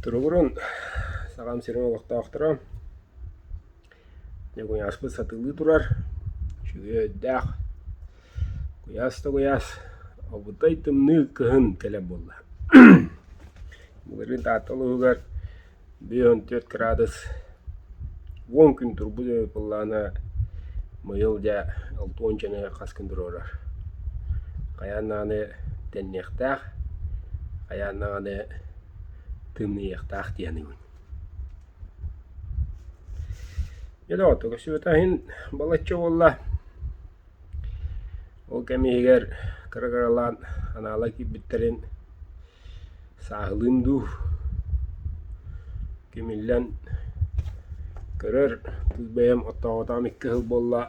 Туругурун саҕам сирим олохтоохторо дьэ куйааспыт сатыылыы турар үчүгэй өйдөөх куйаас да куйаас обудай тымныы кыһын кэлэр буолла былырыын Таатта улууһугар Биир уон түөрт кыраадыс уон күн турбут былаана быйыл дьэ алта уончаны хас күн туруорар. Хайаан даҕаны тэнниэхтээх, хайаан даҕаны тымныйыахтаах дии саныыбын. Дьэ доҕоттор көрсүбүтэ иһин балачча буолла. Ол кэм иһигэр кыра-кыралаан анаала киирбиттэрин Сааһылыым дуу, кимиллэн көрөр кыыс бэйэм оттооботоҕум икки сыл буолла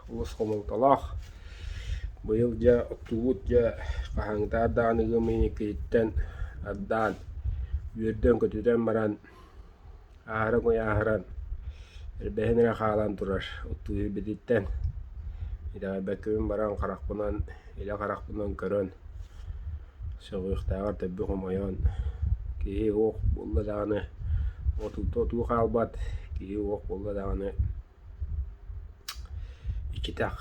олус хомолтолоох. Быйыл дьэ оттубут дьэ хаһааҥҥытааҕар даҕаны ыам ыйын иккиһиттэн ардаан үөрдэн көтүтэн баран Аһары куйааһыран, элбэһин эрэ хаалан турар оттуу иһирбититтэн итэҕэйбэккэбин баран харахпынан, илэ харахпынан көрөн, сөҕүөхтээҕэр төлбү хомойон, киһи уох буолла даҕаны отута отуу хаалбат, киһи уох буолла даҕаны Иккитэх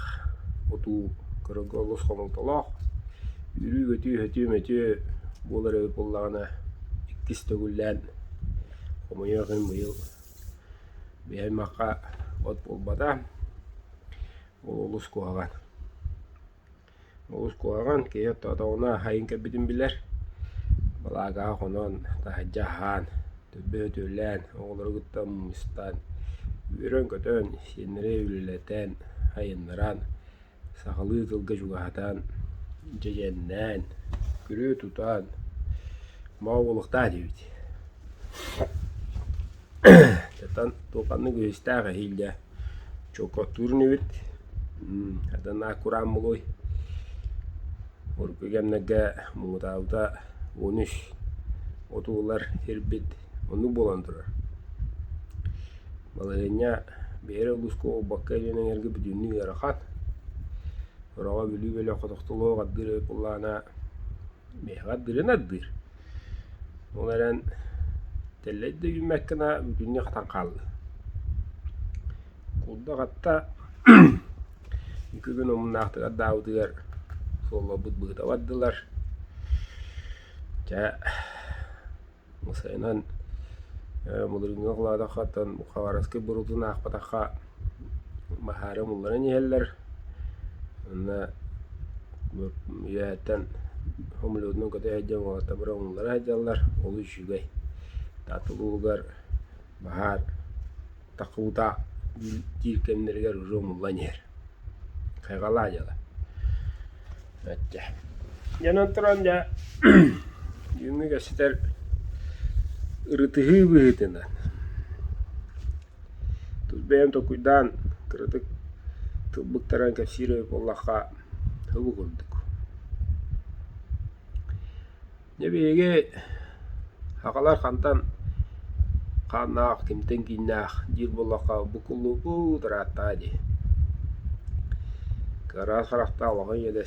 отуу кырыга олус хомолтолоох, үүрүү-көтүү-өтүү мөтүө буолар эбит буоллаҕына иккис төгүллээн хомойуох иһин быйыл бэйэ-аймахха от буолбата, ол олус куһаҕан. Уус куһаҕан, киһи отоҕуна аһайан кэлбитин билэр. Балаакаҕа хонон, таһырдьа аһаан, түрбэ өтүөлээн, оҕолору кытта мустан, үөрэн-көтөн, сиэннэри үлэлэтэн, айаннаан, сахалыы тылга чугаһатан, дьэдьэннээн, күрүө тутан, мал буолуохтаах диэбит. Дьатан туоханнык үһүстээх эһиил дьэ Чокотуурун эбит, Аданаа кураан мулуой, оргуй кэмнэргэ муҥутаабыта он үс оту ылар сирбит оннук буолан турар. Балаһыанньа бэйэрэ улууска буолбакка илин эҥэргэ бүтүннүү ыарахан. Ороҕо Бүлүү бөлөх хотохтолоох ардыыр эбит буоллаҕына, биһиэхэ ардыырын ардыыр. Ол эрэн тэллэйдэ үүммэккинэ бүтүннүү хатан хаалла. Кулдук атта бүгүн омуннаахтыгар даабытыгар суолларбыт быһыта бардылар. Чэ сайынын былырыыҥҥы кылаатахха оттон Хабаровскай боруутун аахпатахха баһаары умулларан иһэллэр уонна үөһэттэн умуллубутунан кото сылдьан уолаттарбыт умуллара сылдьаллар ол үчүгэй таатык ууһугар баһаар такуута диир кэмнэригэр уже умуллан иһэр хайҕалаа дьыала ачча дьэнэн туран дьэ түүҥҥү кэпсэтэр ырытыһыы быһыытынан Тус бэйэм толкуйдаан, кыратык тылбыттаран кэпсиир эбит буоллахха, һыбы курдук. Дьэ биһиги сахалар хантан хааннаах, кимтэн кииннээх диир буоллахха, бу куллууппут ырааттаҕа дии. Кыараҕас харахтаах улахан ийэ да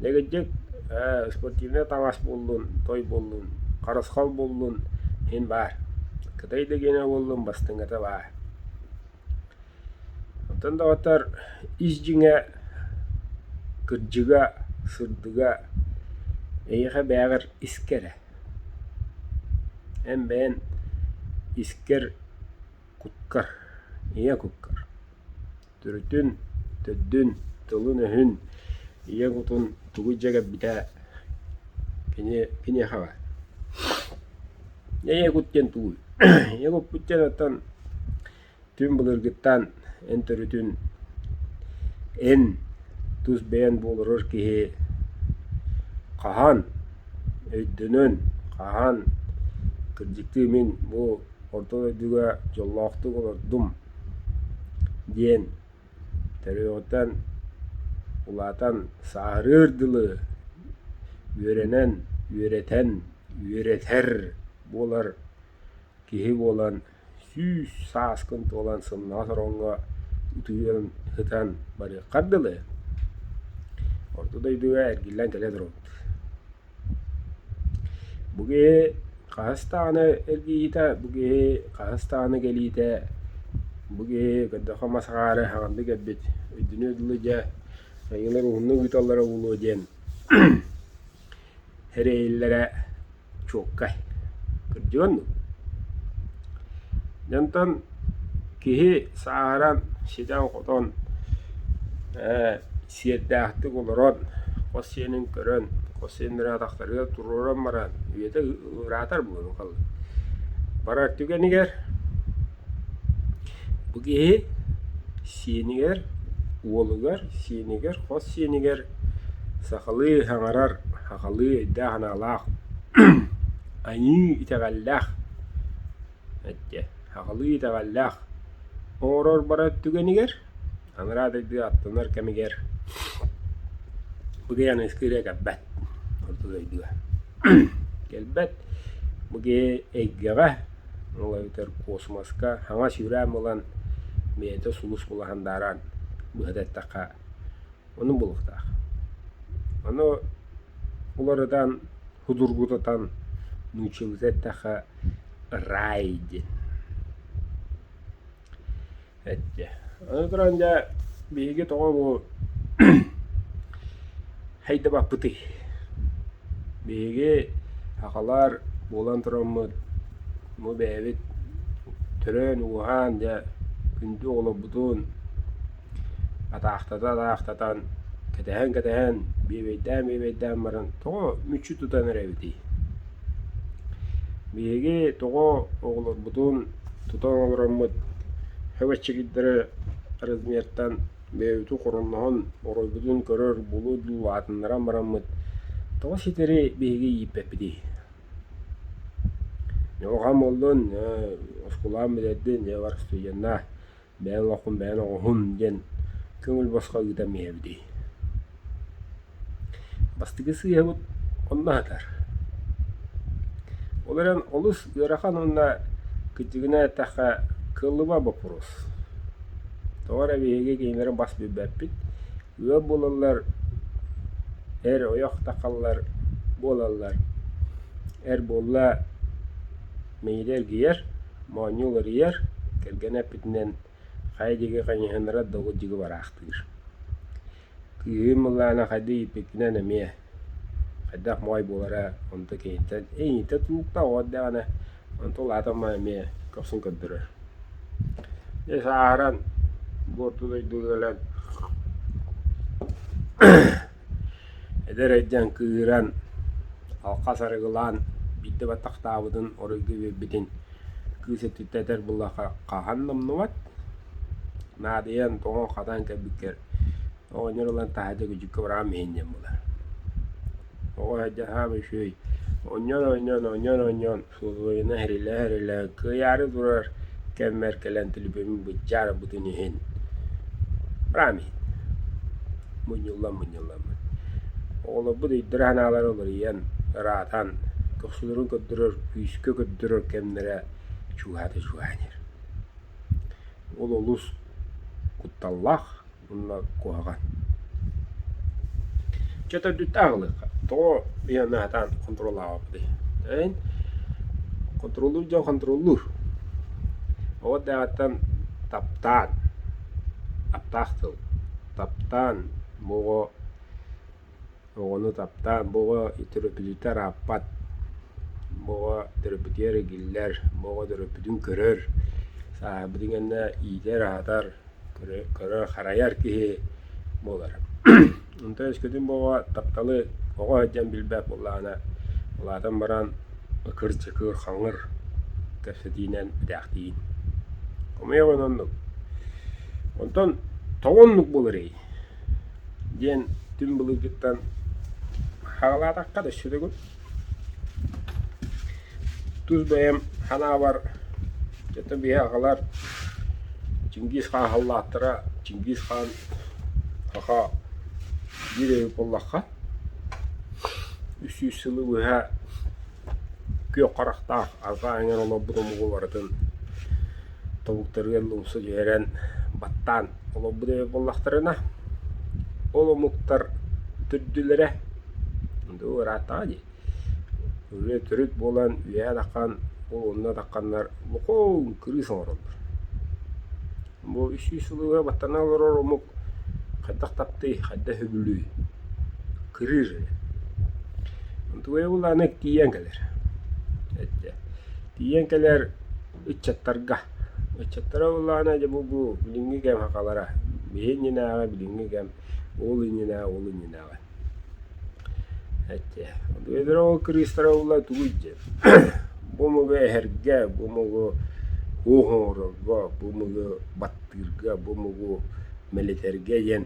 Дэгиддик ээ спортивнай таҥас буллун, той буллун, харысхал буллун иһин баар. Кытай да гиэнэ буоллун бастыҥата баар. Оттон доҕоттор ис дьиҥэ, кырдьыга, сырдыга эйиэхэ бэйэҕэр искэ эрэ. Эн бэйэн искэр, куккар, ийэ куккар. Төрүтүн, төрдүн, тылын-өһүн, ийэ кутун тугу дьэ кэлбитэ кини киниэхэҕэ. Ийэ кут диэн тугуй? Ийэ куппут диэн оттон түн былыргыттан эн төрүтүн эн тус бэйэн буоларар киһи хаһан өйдөнөн, хаһан кырдьыктыы мин бу орто дойдуга дьоллоохтук олордум диэн төрүөҕүттэн улаатан сааһырыыр дылы үөрэнэн үөрэтэн үөрэтэр буолар киһи буолан сүүс сааскын туолан сымнаҕас ороҥҥо утуйан сытан барыаххар дылы орто дойдуга эргиллэн кэлэ туруохпут Бу киһи хаһыс даҕаны эргийиитэ, бу киһи хаһыс даҕаны кэлиитэ, бу киһи көрдөххө мас агаары хаҕынды кэлбит үрдүнү дылы дьэ айыылар уһуннук ыыталлара буолуо диэн эрэйэллэрэ чуолкай. Кырдьык оннук. Дьэ онтон киһи сааһыран, ситэн-хотон, ээ Сиэрдээхтик олорон, хос сиэнин көрөн, хос сиэн эрэ атахтарыгар туруоран баран, үйэтэ ыраатар буолуо халлаан. Барар түгэнигэр бу киһи сиэнигэр, уолугар, сиэнигэр, хос сиэнигэр сахалыы хаҥарар, сахалыы өйдөөх-санаалаах, айыы итэҕэллээх, сахалыы итэҕэллээх оҥорор барар түгэнигэр Анараа дойду аттанар кэмигэр бу киһи Аныгыскы ырыа кэлбэт, ордук өйдүө. Кэлбэт, бу киһи эйгэҕэ, ол эбэтэр космоска хаҥас үрээн булан, бэйэтэ сулус булаһан дааран быһата эттэххэ, ону булуохтаах. Ону уларытан, судургутатан нууччалыы эттэххэ рай диэн. Эттэ: «Аны туран дьэ биһиги тоҕо бу хайдабаппытый? Биһиги сахалар буолан тураммыт, бу бэйэбит төрөөн-ууһаан дьэ күндү оҕолорбутун атаахтата-атаахтатан, кэтэһэн-кэтэһэн, бүөбэйдээн-бүөбэйдээн баран тоҕо мүччү тутан эрэбитий?» Биһиги тоҕо оҕолорбутун тута оҥороммут өбүччүгүттэрэ размертан бэйэбитин хоромноһон оройбутун көрөр булу дуу аатыннаран бараммыт тоҕо ситэри биһиги ииппэппитий? Ньылҕам буоллун, оскуолам бүтэрдин, дьэ бар студеннаа бэйэҥ оҕуккун бэйэҥ оҕуһун диэн көҥүл босхо ыытан иһэбитий бастакы сыыһабыт онно сытар ол эрэн олус ыарахан уонна кыдьыгына эттэххэ кылыба боппуруос тоҕо эрэ биһиги кинилэри бас билбэппит ыал буолаллар, эр ойох-такаллар буолаллар. Эр буолла миигин эргийэр, моонньу уларыйар, кэргэн эппитинэн хайа диэки хайыһыннарар долгудьугу бараахтыыр. Кыыһым ыллаана хайдах ииппиккинэн эмиэ хайдах моой буолара онто киһиттэн, «Эйиитэ тууктаҕыт» даҕаны Онту улаатан бу эмиэ көхсүн көрдөрөр. Дьэ сааһыран, буорту дойду өлөн, эдэр эдьэн кыыһыран, алхас арыгылаан биирдэ баттахтаабытын, оройго биэрбитин кыыс өттүттэн этэр буоллахха хаһан да умнубат. Наадыйан, тоҥон-хатан кэлбиккэр оҕонньор ылан таһа дьэ күдьүккэ быраҕан миһинньэн булар. Оҕо эрдэхээм үчүгэй. Оонньоон, оонньоон, оонньоон, оонньоон усулуобуйаны иһэрилэһэ-иһэрилэһэ кыйаары турар кэммэр кэлэн төлөпүөммүн быдьаарбытын иһин быраам иһин мунньуллан-мунньуллан оҕолорбут өйдөрө-санаалара уларыйан, ыраатан, көхсүлэрин көрдөрөр, күүскэ көрдөрөр кэмнэрэ чугаһата чугаһанар. Ол олус кутталлаах. уонна куһаҕан. Чэ төрдүттэн аҕалыахха. Тоҕо ыйааны сатаан хонтуруоллаабаппытый? Эн хонтуруоллуур дьон хонтуруоллуур. Оҕо дэҕэттэн таптаан, аптаах тыл, таптаан, моҕо, Оҕону таптаан бу оҕо төрөппүтүттэн арааппат, бу оҕо төрөппүтүгэр игиллэр, бу оҕо төрөппүтүн көрөр, сааһырбытын кэннэ иитэр-аһатар, көрөр-харайар киһи буолара. Онтон өскөтүн бу оҕо тапталы оҕо сылдьан билбэт буоллаҕына, улаатан баран ыкыр-дьыкыр, хаҥыр кэпсэтиинэн бүтээхтиин. Хомойуох иһин оннук. Онтон тоҕо оннук буоларый? диэн түҥ былыргыттан хаалаатахха да сүрүгүн. Тус бэйэм ханаабар дьэ биһи аҕалар Чингиз хаан халлааттара Чингиз хаан аха биир өй буоллахха үс сүүс сылы быһа Күөх харахтаах, арҕаа эҥэр олорбут омугу барытын тобуктарыгар лумсу түһэрэн баттаан олорбут эбит буоллахтарына, ол омуктар төрдүлэрэ дуу ырааттаҕа дии, үлэ төрүт буолан үөһэ атаххан ол онно атахханнар лукойл кырыыс оҥороллор Бу үс сүүс сылыга баттана олорор омук хайдах таптый, хайдах үбүлүй? Кырыыр. Тугуйа бұл аны тиийэн кэлэр. Этте. Тиийэн кэлэр ыччаттарга. Ыччаттара бұл аны дьэ бу бу билиҥҥи кэм хахалара. Биһи иннинээҕи билиҥҥи кэм ол иннинээҕи ол иннинээҕи. Эчи, бэбирок кырыыстара ыллар тугуй диэн, бу омугу эһэргэ, бу омугу оһоорорго, бу омугу баттыырга, бу омугу мэлитэргэ диэн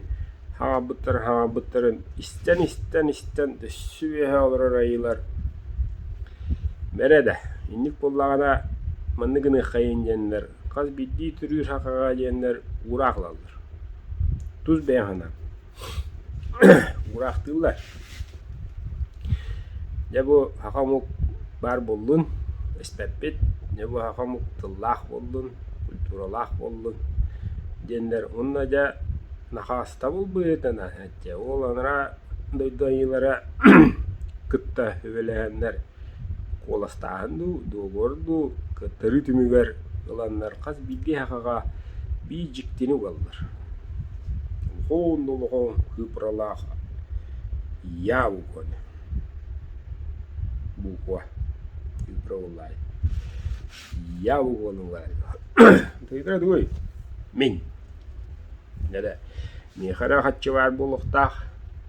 хаҕарбыттарын хаҕарбыттарын истэн истэн истэн өссө үөһэ олорор айыылар бэрэ да инник буоллаҕына маннык гыныаххайын диэннэр хас биирдии төрүүр хахаҕа диэннэр уураах ылаллар. Тус бэйэҥ санаан. Уураахтыыллар. Дьэ бу саха омук баар буоллун, испэппит. Дьэ бу саха омук тыллаах буоллун, культуралаах буоллун диэннэр уонна дьэ Нахаастабыл быһыытынан ачча ол анараа дойду айыылара кытта сүбэлэһэннэр Куоластааһын дуу, дуогуор дуу кыттарыы түмүгэр ыланнар хас биирдии эһэҕэ биир дьиктини угаллар. Уһун олоҕуҥ кыыпыралаах «Я угоня» буква кыыпыра буоллаҕай. «Я угону» ылларай тугуйдара тугуй? Мин. Дьэ да миэхэ эрэ хаччы баар буолуохтаах,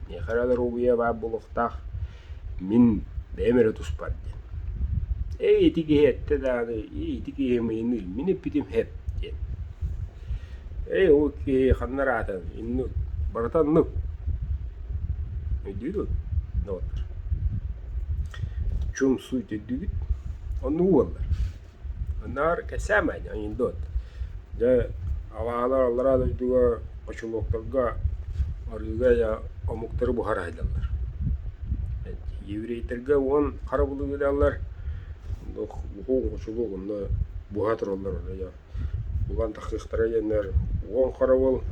миэхэ эрэ доруобуйа баар буолуохтаах Мин бэйэм эрэ туспар диэн: «Эй, ити киһи эттэ даҕаны, ити киһи миигин илмин эппитим эһ» диэн. «Эй, ол киһи ханна араатан, иннук, барыта оннук» өйдүүрүҥ доҕоттор? Чум суйт өйдүүгүт? Оннук буоллар. Наар кэсээмэйин ойуйдут. Дьэ, абааһылар аллараа дойдуга очулуоктарга арыыга э омуктары буһараайдаллар. Еврейтэргэ уон хара булуйдаллар. Уһук очулуок онно буһа тураллар оройо. Булан тахсыахтара диэннэр уон харабыл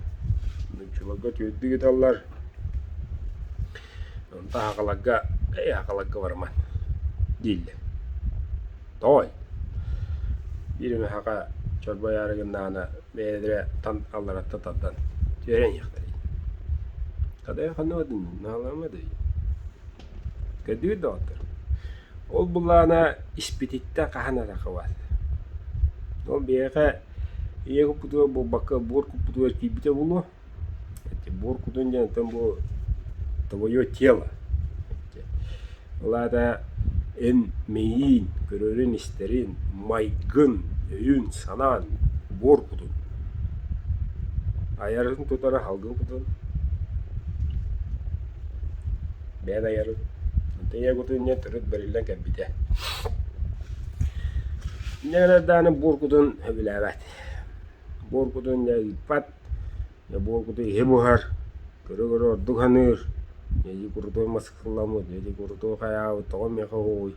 нууччаларга түөрдү ыыталлар. Онтон аһаҕаларга, эйэ аһаҕаларга бараман дииллэр. Тоой, биир эмэхэҕэ чорбойоору гыннаҕына бэйэлэрэ тан алларатта тардан түөрэниэхтэрий? Кыдайга ханныма дын наалаама дый? Көрдүгүт доҕоттор, ол былаана испититтэн хаһан эрэ хабар. Ол биһиэхэ ийэ куппутугар буолбакка буор куппутугар киирбитэ буолуо. Тимур кутун диэнтэн бу твое тело. Ол аата эн мэйииҥ, көрөрүн-истэрин, майгын, өйүн, санаан убуор кутун. Айарын тутары алгын кутун. Бэйэн айарын. Онтон ийэ кутун диэн төрүт бэриллэн кэлбитэ. Инньэ гынан даҕаны буор кутун сөбүлээбэт. Буор кутун дьэ ыыппат. Бу иһи буһар, көрө-көрө ордук саныыр, эдьиий курутуой мас ыксалламмыт, эдьиий курутуой хайаабыт, тоҕо миэхэ уһугуй,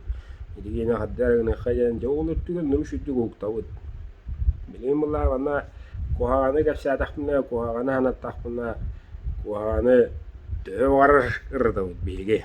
ити киинэ хардыы эрэ гыныахха диэн дьэ ол үрдүгэр нүмүшүйдүк уһуктабыт. Билигин былаһаҕана куһаҕаны кэпсээтэхпинэ, куһаҕаны санаттахпына, куһаҕаны төһө баҕарар ырытабыт биһиги.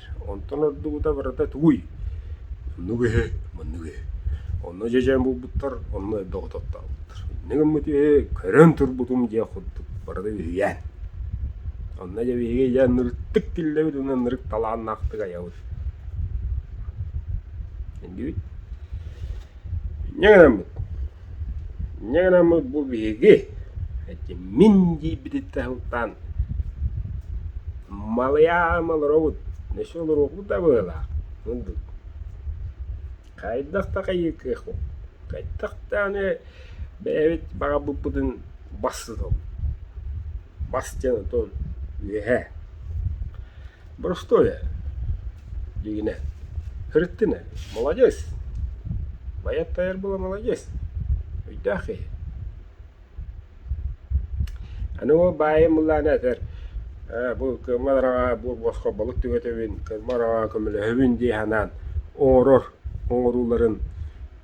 Онтон ордубута барыта тугуй? Оннук үһү, маннык үһү. Онно дьэдьэн булбуттар, онно эрдэ оҕототтообуттар. Инньэ гыммыт үһү, көрөн турбутум диэх курдук, барыта үһүйээн. Онно дьэ биһиги дьэ нырыттык киллэбит уонна нырык талааннаахтык айабыт. Иннибит. Инньэ гынаммыт Дьэ гынаммыт бу биһиги, эти мин диэйбититтэн сылтаан, Малыйаам олоробут, өссө олоруохпут да быһыылаах курдук. Хайдах да хайыыкыахпыт, хайдах даҕаны бэйэбит баҕарбыппытын бастатабыт. Бастыан отон үөһэ. Боростуой ээ, диигинэ, сырыттын ээ, маладьыас! Байат Тайарбыла маладьыас, өйдөөх киһи. Аны ол баайым ыллаан этэр, «Ээ, бу кыыммат араҕа бу босхо балык түгэтэбин, кыыммат араҕа көмөлөһөбүн» дии санаан оҥорор оҥорууларын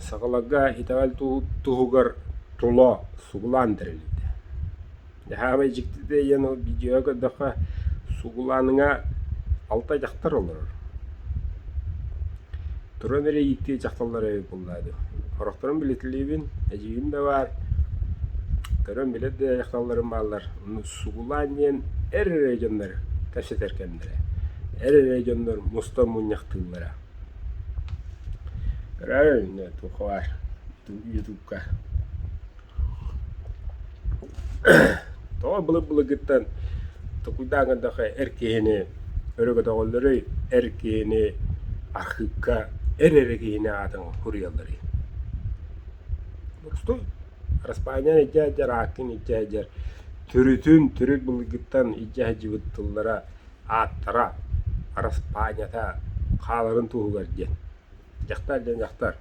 Сакалагга итэҕэл туһугар тула сугулаан тэрилитэ. Эһээмэй дьиктитэ диэн ол дьиэҕэ көрдөххө сугулааныҥа алта дьахтар олорор. Туруон эрэ ииктии дьахталлара үһү буоллаа дуо? Сорохторун билитилиибин, эдьиийим да баар, көрөн билэр да дьахталларым бааллар. Сугулаан диэн эр эрэ дьоннор кэпсэтэр кэмнэрэ. Эр эрэ дьоннор мустан мунньахтыыллара. Өрөй, нетухуар ютубка Тоҕо былыр-былыргыттан токуйдааҥ эрдэххэ эр киһини өрөгөтөҕөллөрүй, эр киһини архыыпка эр эрэ киһини аатын суруйалларый? Мустуй, Араспаанньа илдьэ сылдьар, Ааккын илдьэ сылдьар төрүтүн, төрүт былыргыттан илдьэ сылдьыбыт тыллара ааттара, араспаанньата хааларын туһугар диэн. Дьахтар диэн дьахтар.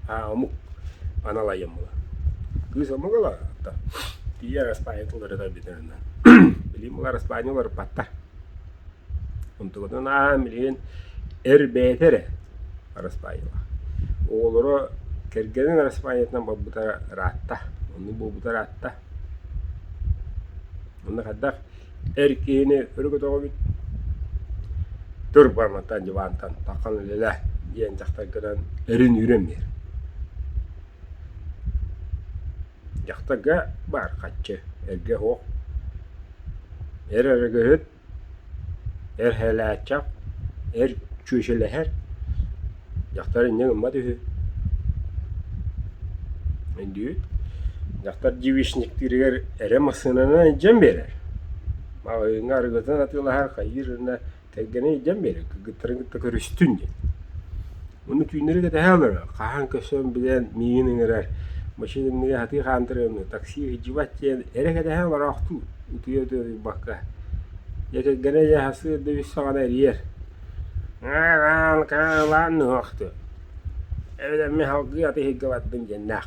Аа, омук аналайым була. Кыыс омук ыла та. Тиийэ араспаанньа туларыта бүтэринэ. Билим була араспаанньа уларыппаттар. Онтугутун аан билигин эр бэйэтэ эрэ араспаанньалаах. Оҕолоро кэргэнин араспаанньатынан барбыта ыраатта. Оннук буолбута ыраатта. Манна хайдах эр киһини өрөгөтөҕүбүт турбаммыттан дьыбаантан тархан үлэлэ диэн дьахтар гынан өрүн-үүрэн биэр. Дьахтарга баар хаччы, эргэ оһох, эр өрөгөһүт Эрһэлээччэх, эр чүөчэлэһэр, дьахтар инньэ гыммат үһү өйдүүр. Дьахтар девичниктииригэр эрэ массыынанан илдьэн биэрэр, маҕаһыыҥҥа арыгытынан атыылаһар, хайыыр гынна, тэлгэнэн илдьэн биэрэр, кыргыттарын кытта көрүстүн диэн. Ону түүннэри кэтэһэ олорор, хаһан көсөн билэн миигин ыҥырар, машинымныгар сатыы хаантарыамны, такси иһдьибат диэн эрэ кэтэһэ олороохтуу утуйа-утуйбакка, дьэ кэргэнэ дьэ сарсыарда үс саҕана эрийэр: «Ааан, каалаан нуһуохту, эбэтэр мин салгыы аты иһиргэбаппын» диэннээх.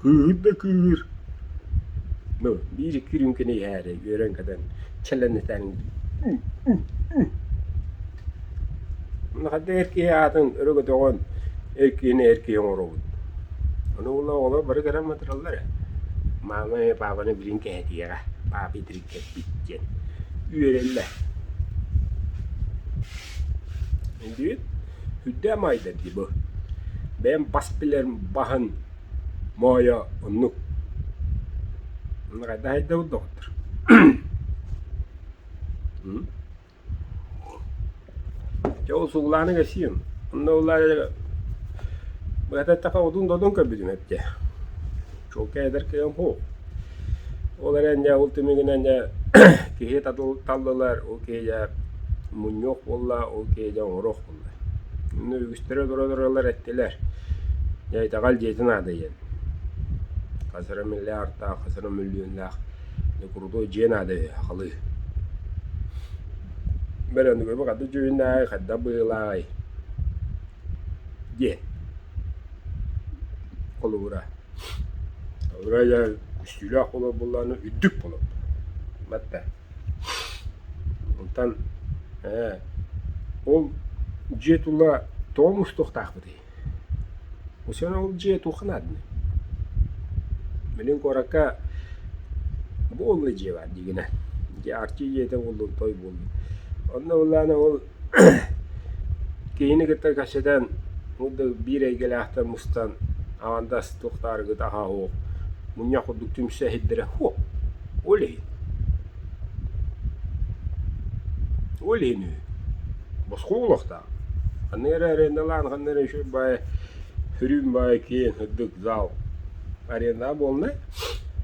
кыыһыт да кыыһыыр ну биир-икки рюмканы иһээри үөрэн көтөн чэлэнитэн манна ханна эр киһи аатын өрө көтөҕөн эр киһини эр киһи оҥоробут ону ылла оҕолор бары көрөн батыраллар ээ маамай паапаны билин кэһэтиэҕэ паапый тириккэппит диэн үөрэллэр индибит үрдээн маайдар дии бу бэйэм бас билэрим баһын Моойо оннук. Хайдах доҕоттор? Чэ ол сугулаанын кэсиим. Онно улаайа быһата эттэххэ одун-додун көрбүтүм эптэ. Чуолкай эдэр кыайым уһу. Ол эрэн дьэ ол түмүгүнэн дьэ киһи талыллар, ол киһи дьэ мунньуох буолла, ол киһи дьэ оҥоруох буолла. Инна үгүстэрэ олоро-олороллор эттилэр: «Дьэ итэҕэл дьиэтэ наада диэн. Хас эрэ миллион артаах, хас эрэ мөлүйүөннээх дьэ курутуой дьиэ наада үһү, ахалыы. Бөрөндүгүрбүт ханнык дьүһүннээҕий, хайдах быһыылааҕый?» диэн холобура. Холобура дьэ үстүүлээх холобур буоллаҕына үрдүк холобур. Батта. Онтон ээ ол дьиэ тула тоҕо мустуохтаахпытый? Бу сеня ол дьиэ туохха наадный? Билигин куоракка бу буолла дьиэ баар дии гынар, дьиэ арчы дьиэтэ буоллун, той буоллун. Онно ыллаана ол Киһини кытта кэпсэтэн ол да биир эйгэлээхтэр мустан аҥардас туохтаах арыгыта аһаа суох мунньах курдук түмсэ иһирдэрэ «Фу! Ол иһин ол иһин үһү босхо буолуохтаах ханна эрэ арендалаан ханна эрэ үчүгэй баайы үрүүм баайы киэйэн сырдык зал арендаҕа буолла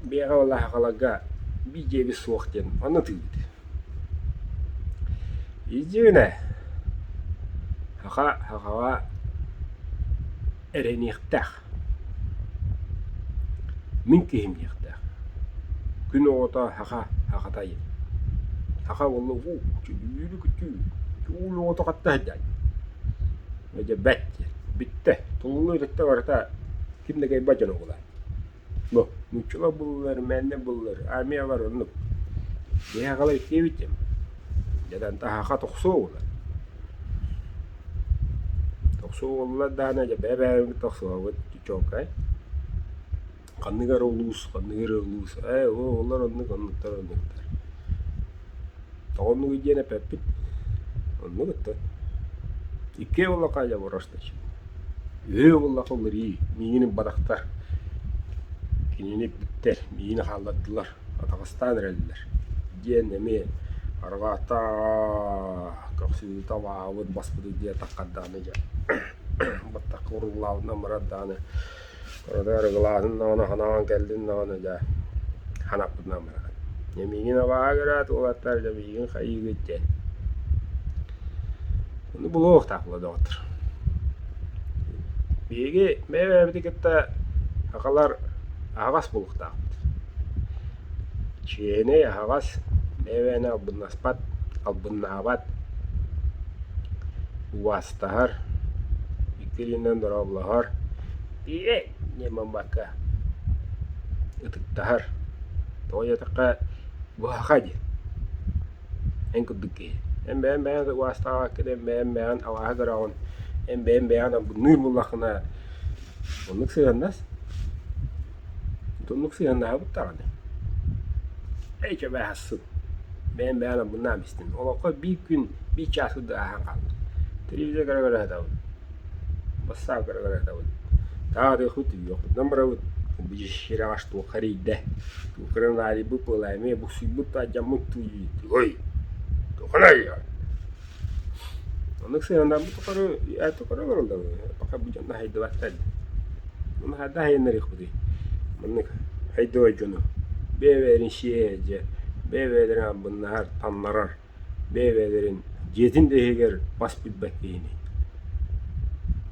бэйэҕэ балаһаакаларга биир дьиэбит суох диэн манна атыыбыт Идюня, саха сахаҕа эрэйиниэхтээх, мин киһим диэхтээх, күн оҕото саха сахата диэн, саха уолла уу чөлүү күтүү чуул оҕото хатта сылдьаай, дьэ бэт диэн, бүттэ, туллуу иликтэ барыта ким да кэйбэт дьоно буолаай. Бу нууччалар буллулар, мэннэ буллар, армиялар оннук. Биһиэхэ халай диэбитим, дьатан таһаха тохсуо уолан. Тохсуо уоллар даана дьэ бэйэ-бэйэбит тохсуобут чуолкай. Ханнык эрэ улуус, ханнык эрэ улуус, ээ, ол олор оннук, оннуктар оннуктар. Оҕоннук диэн эппэппит, оннук ыттат. Икки буоллахха дьэ бураштач, үһү буоллахха уларыы, миигин ымбатахтар, кинини иппиттэр, миигин хааллардылар, атаҕастаан эрэллэр, диэн эмиэ арҕаа-таа көхсүтэ абааһыбыт баспытыт диэн таххардааны дьэ батахха уруулаабытынан барар даҕаны Ону арыгылаатым даҕаны санаҕын кэллин даҕаны даа санаппытынан баран Лэмиигин абааһы көрөөт уолаттар Лэмиигин хайыыгыт диэн Ону булуохтаахпыла доҕоттор Биһиги бэйэ-бэйэбитин кытта сахалар аһаҕас булуохтаахпыт Чиэһинэй аһаҕас, бэйэбээнэ албыннаспат, албыннаабат, убаастаһар, икки илиинэн дорооболоһор, «Тииэй!» диэн бамбаакка ытыктаһар, тоҕо диэтэххэ «Буһаха» диэн эн курдук киһи. Эн бэйэҥ бэйэҕин убаастаабаккын, эн бэйэҥ бэйэҕин алааһы көрөҕүн, эн бэйэҥ бэйэҕин албынныыр буоллаххына, оннук сыһыаннас. Итуннук сыһыаннаһабыт даҕаны, эчи абааһысын, бэйэм бэйэҕин ылбыннаам истим. Олоххо биир күн, биир чаас курдук ааһан хаалбыт. Телевизорга көрө сатабыт, бассаабкалары көрө сатабыт, таатыахпыт, үүйүөхпүтүнэн барабыт, сүрэҕэ туохха эрийдэ, коронаvirus бу, былаамыйа буксуйбут да, алдьаммыт дуу, ой, туохха эрийэҕин? Оннук сыһыаннаабыт тухары ээт тухары олорон да пока будем наһайдыбаттар. Аны ханна аһайыннарыахпытый? Маннык айдыбай дьону бэйэ-бэйэлэрин сиэйэр дьэ, бэйэ-бэйэлэрин амбыннаһар, таннарар, бэйэ-бэйэлэрин дьиэтин да иһигэр бас билбэт киһини.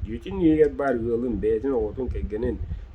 Дьиэтин иһигэр баар ыалын, бэйэтин оҕотун, кэргэнин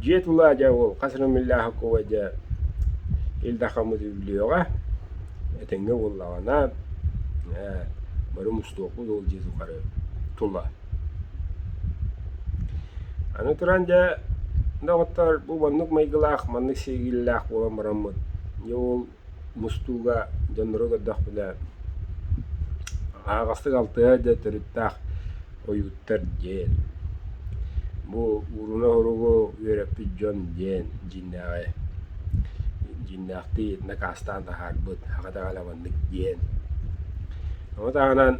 Дьиэ тулаа дьэ ол хас эрэ миллион оһуокуба дьэ ил-дахаммыт үллүөҕэ, этэҥҥэ буоллаҕына ээ бары мустуохпут ол дьиэ тухары тула. Аны туран дьэ доҕоттор бу маннык майгылаах, маннык сиэриллээх буолан бараммыт дьэ ол мустууга дьоннору көрдөхпүнэ аһаҕастык алтыһа да төрүттээх ойууттар диэн, бу ууруна-уругу үөрэппит дьон диэн дьиҥнээҕи дьиҥнээхтии накаастаан таһаарбыт хата даҕалабаннык диэн. Ону таһынан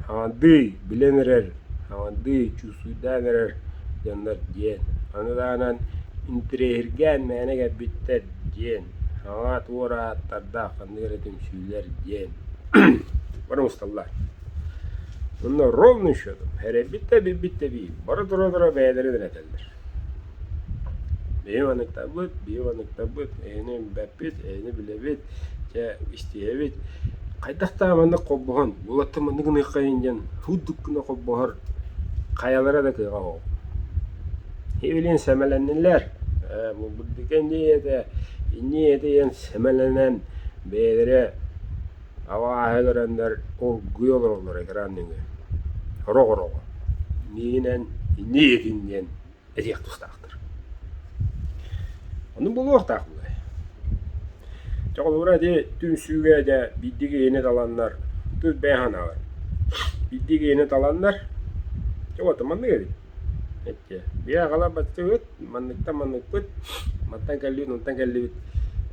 хамандыы билэн эрэр, хамандыы чуусуйдаан эрэр дьоннор диэн, аны таһынан интириэһиргээн мээнэ кэлбиттэр диэн Саҕа туор ааттардаах ханнык эрэ түмсүүлэр диэн бары мусталлар. Онно ровный счетом эрэлбит да билбит да биир бара тура-тура бэйэлэрин эрэтэллэр. Бэйи манныктарбыт, бэйи манныктарбыт, эһэни үмбэппит, эһэни билэбит, чэ истиһэбит. Хайдахтаа маннык холбоһон, уолаттар маннык гыныаххайын диэн һуутук гына холбоһор хайалара да кыаҕа суох. Илин сэмэлэннилэр, булбут дикэндиэйэтэ инньиэйэтэ диэн сэмэлэнэн бэйэлэрэ абааһы олороннор оргуйа олороллор итирии анныгар орох-орого миинэн инньиэйэтин диэн этиэх тустаахтар. Ону булуохтаах буолай. Дьэ холобура ити түмсүүгэ дьэ биирдии киһини таланнар тус бэйэ санаабар биирдии киһини таланнар дьэ уоту маннык эбит Ийээ аҕалар баттыгыт, манныктан манныкпыт, мантан кэллибит, мунтан кэллибит.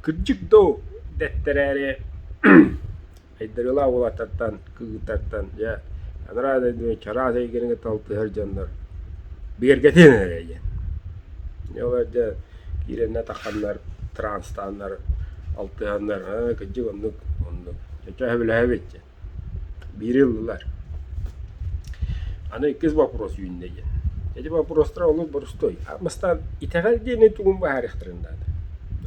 Кырдьык дуу, дэттэрээри Айдарыылаах уолаттартан, кыыһыттартан, дьэ анараа дойдуну чараас эйгэрин кытта алтыһар дьоннор бигэргэтиэн эрэ диэн. Ол дьэ киирэннэр-тахханнар, транстааннар, алтыһаннар, кырдьык оннук, оннук. Чочо сөбүлэһэбит диэн. биири ыллылар. Аны иккис бопуруос үүннэ Ити бопуруостар олус борустуой. Мастаан итэҕэл диэни тугун быһаарыахтарын наада.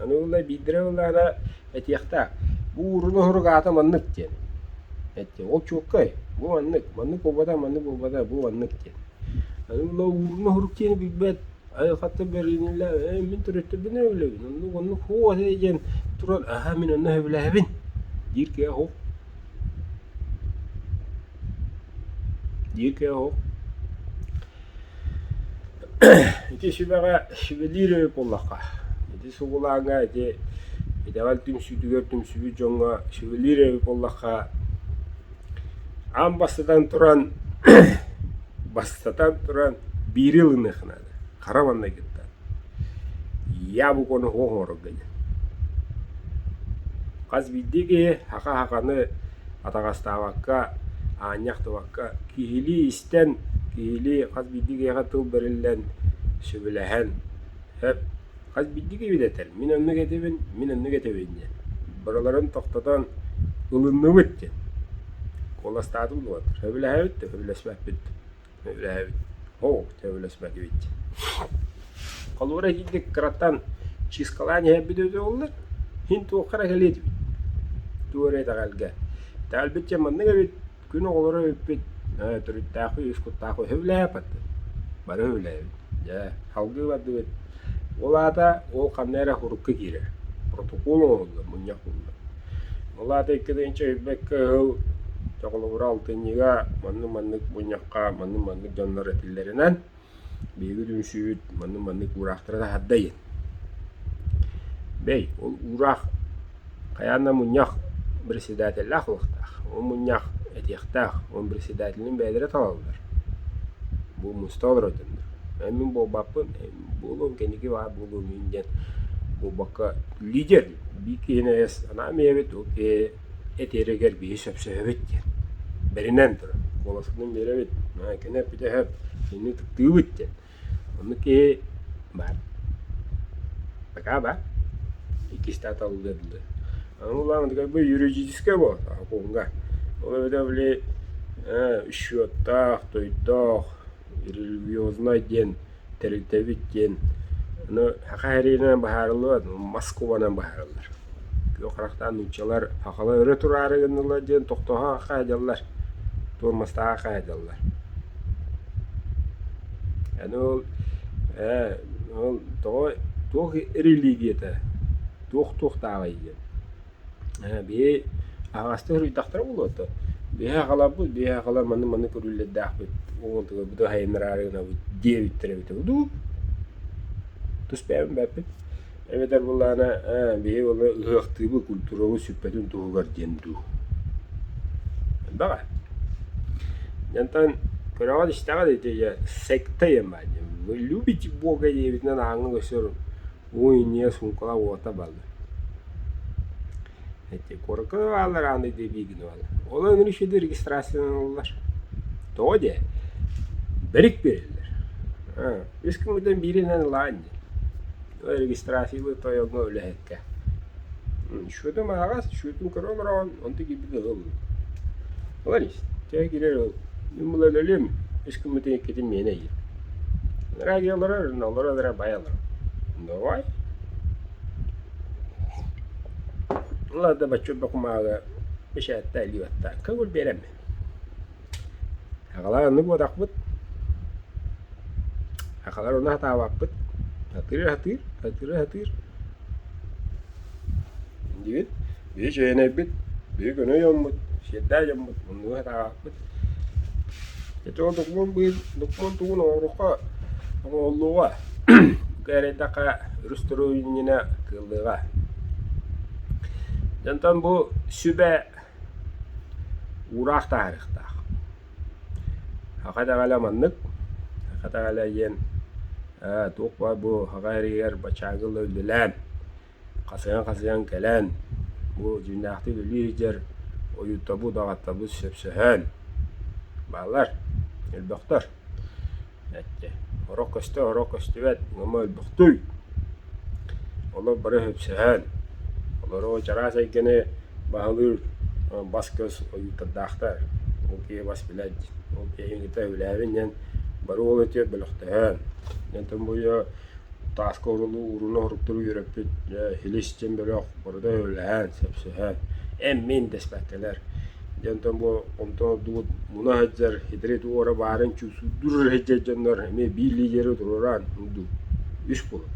Аны ылла биирдэрэ ыллаана этиэхтээх. Бу уурун оһурук аата маннык диэн. Эттэ ол чуоккай, бу маннык, маннык буолбата, маннык буолбата, бу маннык диэн. Аны ылла уурун оһурук диэни билбэт Эһи хата бэриниилээх ээ мин төрөттөрбүнэн өллөбүн оннук оннук һуо дии диэн турар аһаа мин онно сөбүлэһэбин диир киһи оһох диир киһи оһох ити сүбэҕэ сүбэлиир үһү буоллахха ити сугулааҥҥа ити итэҕэл түмсүүтүгэр түмсүбүт дьоҥҥо сүбэлиир эбит буоллахха Ам бастатан туран бастатан туран биири ылыныахха наада, хара маҥнайгыттан. Яблокону оһох оҥорорго дии. Хас биирдии киһи хаха-хаханы атаҕастаабакка, аанньахтыбакка киһилии истэн, киһилии хас биирдии киһиэхэ тыл бэриллэн, сөбүлэһэн, сөп. Хайбиддиги үбүлэтэр, мин оннук этэбин, мин оннук этэбин диэн. Быраларын тохтотон, ылынныбыт диэн. Куоластаатым дуо, сөбүлэһэбит да, сөбүлэспэппит да. Сөбүлэһэбит. Оо, сөбүлэспэтибит дии. Холура итинник кыраттан чыыскалаан иһэрбит өтө боллар, син туохха эрэ кэлиэтибит. Туора итэҕэлгэ. Тээлбит дьэ маннык эбит, Күн оҕолоро үппүт төрүттээх үһү, үс куттаах үһү. Үһүлээппит. Бары үһүлээбит. Дьэ, салгыы бардыбыт. Ол аата ол ханна эрэ урукку киирэр. Протокол оҥоһуллар, мунньах буолла. Ол аата икки да инчи өйбөккө ыһыл чоҕулугура алтынньыга маннык-маннык мунньахха маннык-маннык дьоннор этиллэринэн Биһиги түмсүүбүт манны маннык уураахтары таһаардай? Бэй, ол уураах хайаан да мунньах председателлээх буолуохтаах, ол мунньах этиэхтээх, ол председателин бэйэлэрэ талаллар. Бу муста олоротуннар. Эн мин буолбаппын, буолуом кэнники баар буолуо мин диэн буолбакка лидер биир киһини эс анаан бэйэбит ол киһи Этиэригэр биһи сөпсөһөбүт диэн: «Бэринэн туран, куоласытынан биэрэбит, Маайканы эппитэһэ, итинник ытыктыыбыт» диэн. Онно киһи баар. Такаа баар. Иккистээх талыллыа дылы. Аны улахан такай бу юридическай буолар окуунга. Ол эбэтэр били ээ, счеттаах, тойдоох, религиознай диэн тэрилтэбит диэн аны саха айарыытынан быһаарыллыбат Москубанан быһаарыллар. Күөх харахтаан нууччалар сахалар өрө тураары гыннылар диэн тохтоһоохха дьаллар, туормастааҕа хаадьаллар. Аны ол ээ ол тоҕо туох религията, туох туохтааҕый диэн Биһи аҕастыы суруйдахтара буолуо дуо? Биһи аҕаларбыт, биһи аҕалар маны-маны көрүүлэрдээхпит, уҥуотугабыт айаннараары гынабыт диэбиттэр эбитэ дуу, тус бэйэбин бэппит. Эбэтэр буоллаҕына биһи ол ыһыахтыыбыт, культурабыт сүппэтин туһугар диэн дуу. Элбэх ээ. Дьэ онтон көрөҕүт-истэҕит ити дьэ секта диэн баар диэн. Любить Бога диэбитинэн аһаҥҥы көстөр уу инньэ суумкалаах уота бааллар эти куоракка бааллар ааны биигин бааллар ол аны ишиди регистрациянан ыллар тоҕо дии бэрик биэрэллэр үс ким мыйдан бииринэн ылаан дии регистрациялыы тойоҥҥо үлэһиккэ Сүөтүм аһаҕас, сүөтүм көрө олороон, онтон киирбит ыһыл. Олорис, чай киирэр ыһыл. Мин булан өлүм, ышкыммытын иккитин миэнэ ыйым. Радио олорор, олорор олорор бай олорор. Давай. Уларда бачча бакумаага бэшээтта илиюатта. Көгүл берем. Аҕалар аны буотахпыт, аҕалар уна сатаабаппыт, сатыыр сатыыр, сатыыр сатыыр дьиибит биһи чээнэйбит, биһи көнө дьоммут, сиэрдээх дьоммут муннугу сатаабаппыт. Ити ол докумуон быйыл докумуон тугун оҥорухха, оҥоһуллуоҕа, бука эрэйдэххэ өрүс төрөүнньүнэ кыаллыаҕа. Дьэ онтон бу сүбэ Уураах таарыахтаах. Хаха итэҕэли маннык, хаха итэҕэли эйиэн ээ туох баар бу хаха эргигэр баччааҥҥы ыла үлэлээн, хасыйан-хасыйан кэлэн, бу дьиҥнээхтик үлэлии сылдьар ойууттарбыт, даҕаттарбыт сөпсөһөн, бааллар, өлбөхтөр. эттэ: «Оро көстө, оро көстүбэт, ыама өлбөхтүй, олор бары сөпсөһөөн, олору чараас эйгэни баһылыыр бас-көс ойуурдардаахтар, ол киһи бас билэр диэн, ол киһиҥ ити өйдөөбүн диэн бары ол өтүө бөлөхтөһөөн, онтон бу Тааска уруну оһуруктары үөрэппит илис диэн бөлөх барыта өллөһөн, сөпсөһөн эн-мин дэспэккэлэр дьэ онтон бу хомтоодубут муна сылдьар хитрит уора баарын чуусуурдуур сылдьар дьоннор эмиэ биир лидеры туруоран дуу үс кулуп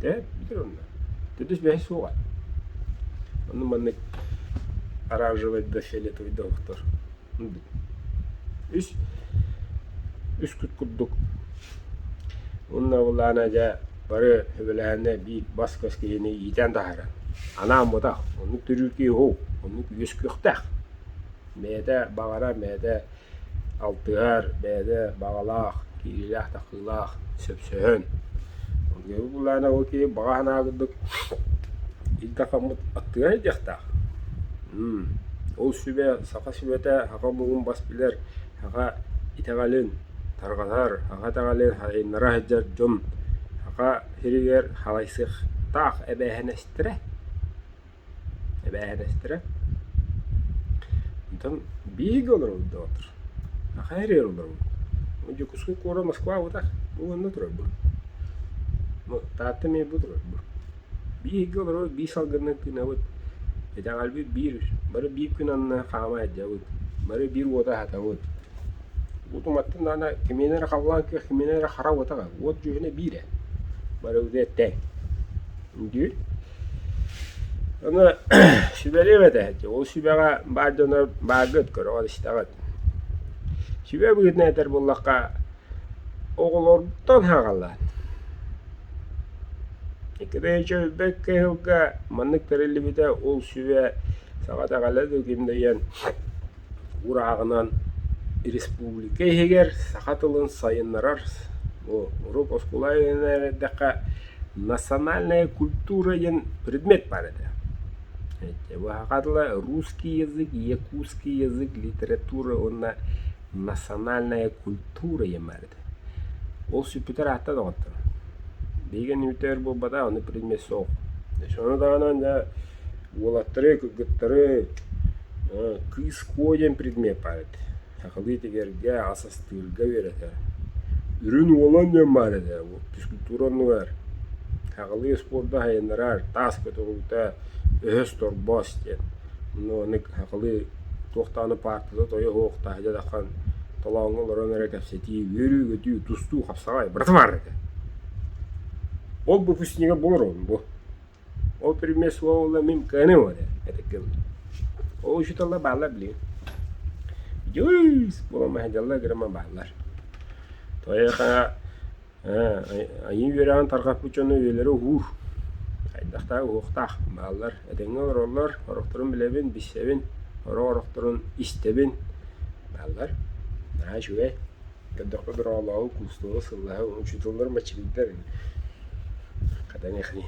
дьэ бүтэр онно төрдүс миэхэ суоҕа оннук маннык оранжевай да фиолетовый да оһохтор үс үскүт курдук уонна ол аана дьэ бары сөбүлэһэннэр биир бас-көс киһини иитэн таһааран анаан бутах оннук төрүүр киһи уһу оннук үөскүөхтээх бэйэтэ баҕара бэйэтэ алтыһар бэйэтэ баҕалаах киириилээх быһыылаах, сөпсөһөн. Георгий Буланов кии баҕа санаатык илдэ-хаммыт аттыга диэхтээх. Ол сүбэ саха сүбэтэ аха муҥун бас билэр, аха итэҕэлин тарҕатар, аха итэҕэлин сайыннара сылдьар дьон саха сиригэр халайсыахтаах эбээһинэстэрэ. Эбээһинэстэрэ онтон биһиги олорордоот аха эрэ олоробут Дьокуускай куорат Москвабыта бу манна турарбын ну Таатта Мэйбу турарбын биһиги олорор биир салгыннык тыынабыт итэҕэлбит биир бары биир күн анна хаамай сылдьабыт бары биир уота аһатабыт утуматтан даҕаны кимиэнэ эрэ халлаан күөх кимиэнэ эрэ хара уот аҕа уот дьүһүнэ биир ээ бары этэй үндүү Аны сүбэлиэм этэ, ол сүбэҕэ баар дьоно бааргыт, көрөҕүт-истэҕит. Сүбэ быһыытынан этэр буоллахха, оҕолоруттан сааҕалаан. Кэрэйэ өйбөт кыһылга маннык тэриллибитэ ол сүбэ саха этэҕэлэ да гимнэйэн урааҕынан республика иһигэр саха тылын сайыннарар уруок оскуолаҕа эрдэххэ национальная культура диэн предмет баар этэ быһаҕа тыла русский язык якутский язык литература уонна национальная культура диэн баар этэ ол сүппүтэр аата доҕотторо биһигини үтэр буолбатах ону предмет суох ону даҕаны Уолаттары, кыргыттары кыыс куо диэн предмет баар этэ. Сахалыы тигэргэ, ас астыырга үөрэтэр. Үрүн уолан диэн баар этэ, физкультура оннугар. Сахалыы спорду айаннарар, тааска туруута, өһөс торбос диэн. Ону ону сахалыы туох даҕаны паартата тойо оһох тааһы дьатахан толооҥҥо олорон эрэ кэпсэтии, үөрүү-көтүү, тустуу, хапсаҕай, быратымаар этэ. Ол бу фистиҥэ булар уолум бу. Ол пример суола мин кыаным оре этиккин. Ол учуталла бааллар билигин. Дьуй, спуо маһадалла грамма бааллар. Тоеха айыы үөрэҕин тарҕаппыт дьоно үйэлэрэ уур. Хайдахтаа уһуохтаах бааллар. Этэҥҥэ олороллор, орохторун билэбин, билсэбин, оро орохторун истэбин бааллар. Наһаа үчүгэй. Көрдөхпө быраҕылааҕы, куустуоҕу, сыллааҕы учууталлар мачилдар ини. Хатан эхни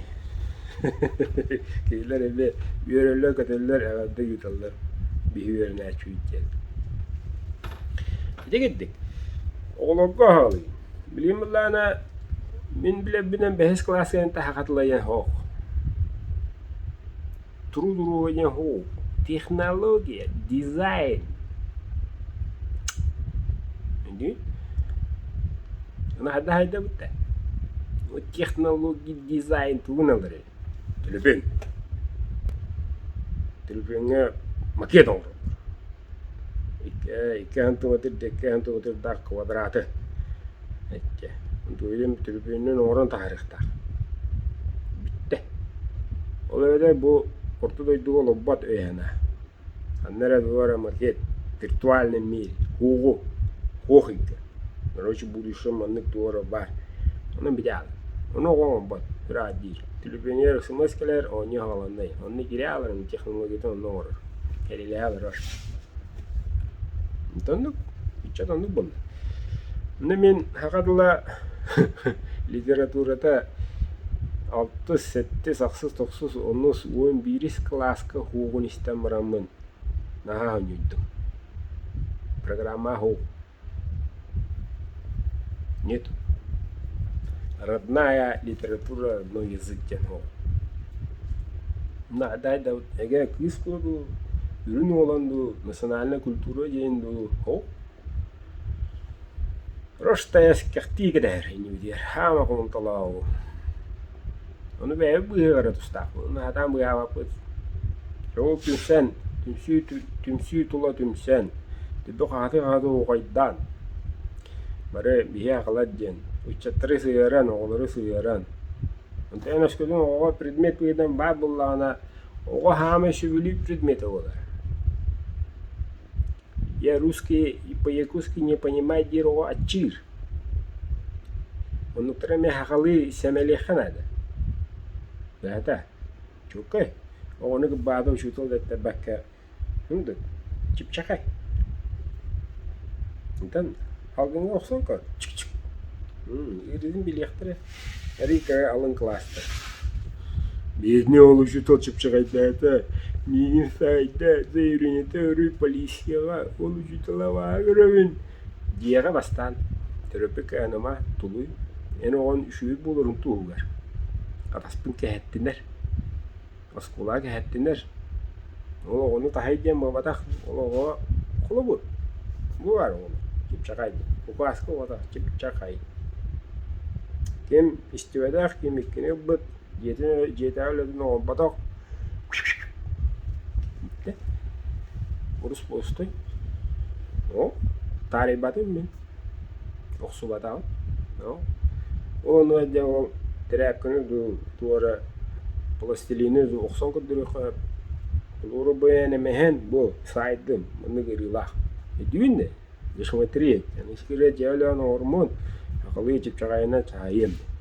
Кинилэр эмиэ үөрэллэр-көтөллөр, эҕэрдэ ыыталлар. Биһи үөрэнээччибит диэн. Ити курдук, оҕолорго аһаалыйын. Билигин былаана мин билэрбинэн бэһис кылаас кэнниттэн саха хатылайыан суох. трудование губ, технология, дизайн. Indi наһаа даһайдабытта вот технология дизайн тылыналары төлөпүөн төлөпүөҥҥэ макет оҥороллор иккиэн тугатыр да иккиэн тугатырдаах квадраты эчи антуйдум трибүнүн оҥорон таһаарыахтаах бүттэ ол эбэтэр бу орто дойдуга олорбот үһүнэ ханна эрэ бары макет виртуальный мир куоҕу куох ыйга короче будущем маннык туора баар онон били аал ону оҥорбот ыраах диир Түлүпүөнүгэр СМС кэлэр, оонньуу аһаҕаланной. Онно киирэ олорон технологиятын онно оҥорор. Кэлилээ олорор. Итоннук, ыччат оннук буолла. Аны мин саха тыла литературата алтыс, сэттис, ахсыс, тохсус, онус, уон биирис кылааска суоҕун истэн бараммын наһаа хонньуйдум. Программа суох. Родная литература на язык диэн ол. Наадайдабыт эгэ кыыс буолуу, үрүн уолан дуу, национальная культура диэн дуу ол Роштая скехтии кэтэһэр инибитигэр хаама кулунталаабу Ону бэйэбит быыһыгар да тустаахпыт, сатаан быыһаабаппыт. Ол түмсэн, түмсүү түмсүү тула түмсэн, хахаты-хахаты уухайдаан, бары биһи акылат диэн ыччаттары сыһыаран, оҕолору сыһыаран, онтон эн өскөтүн оҕоҕо предмет быһыытынан баар буоллаҕына, оҕо хаамай сөбүлүүр предметэ буолар. Я русский по-якутски не понимаю дьиэҕэ аччыыр. Оннуктара эмиэ сахалыы сэмэлиэххэ наада. Быһата, чууккай, оҕону кырбаата учуутал да этэрбэккэ һындык, чыпчакай. Онтон албыҥҥа охсон көр, чик-чик, ыарыытын билиэхтэрэ. Эрикэ алын кылааска Бедный ол учутал чыпчаҕайдаата Миигин саайда Заиринэтэ өрүү полицияҕа Ол учуталабааһы көрөбүн Диэҕэ бастаан Төрөппүк Анама тулуй Эн оҕон үчүгэй буоларыҥ туоһугар Хатаспын кэһэттинэр Оскуолаҕа кэһэттилэр. Ол оҕону таһай диэн буолбатах, ол оҕо холобур. Бу баар оҕону, чыпчакай диэн. Укааска оҕото чыпчакай. Ким истибэтэх, ким иккини ылбыт, дьиэтин, дьиэтээҕи үлэтин оҥорботох. Урус болустой. О, таарыйбатым мин. охсубатаҕым. Оо, ол онно дьэ ол тирээпкэни дуу туора пластилины дуу охсон көрдөрүөххэ сөп. Флуорубенэм эһэн бу сайдым маннык ыарыылаах. Өйдүүн да? Засмотреть, а на секрет я Алена Ормон, ахалыы чыпчаҕайынан чаһыйыам.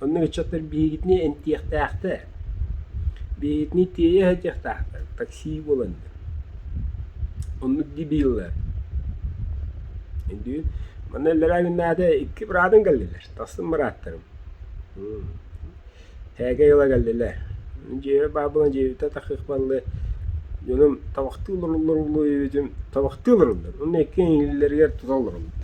Онно ыччаттар биһигитини эмтиэхтээхтэр, биһигитини тиэйэ сылдьыахтаахтар, такси буолан диэн. Оннук дии биһиэллэр. Indi манна иллэрээ күннээҕи икки быраатын кэллилэр, тастым бырааттарым. Тээкэй ыла кэллилэр. Дьиэбэр баар буолан дьиэбиттэн тахсыахпаллыы дьонум табахтыы олороллор буолуо диэбитим, табахтыы олороллор. Онно икки иҥиллэригэр тута олороллор.